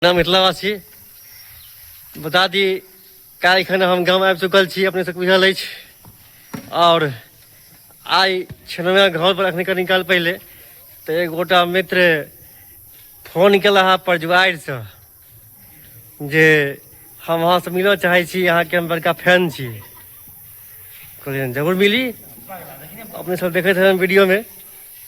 अपना मिथिलावासी बता दी काल्हि खन हम गाम आबि चुकल छी अपने सबके बुझल अछि आओर आइ छनौया घर पर अखने कनी काल पहिले तऽ एक गोटा मित्र फोन केला हा परजुआरिसँ जे हम अहाँसँ मिलऽ चाहै छी अहाँके हम बड़का फैन छी कहलियनि जरूर मिली अपने सब देखैत हेबै वीडियोमे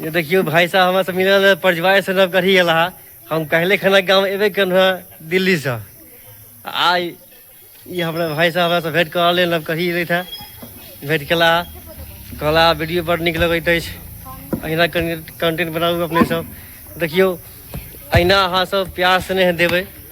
ये देखियो भाई साहब हमरा से मिलल है परजवार से नब गढ़ी गेला है। हम कहले खाना गाँव एबे कन है दिल्ली से आ ये हमरा भाई साहब हमरा से भेंट करा ले नब गढ़ी रही था भेंट केला कहला वीडियो बड़ नीक लगैत अछि अहिना कंटेंट बनाबू अपने सब देखियौ अहिना अहाँ सब प्यार स्नेह देबै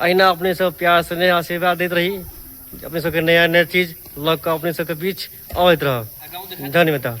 अहिना अपने सब प्यार स्नेह आशीर्वाद दैत रही अपने सबके नया नया चीज लग कऽ अपने सबके बीच अबैत रहब धन्यवाद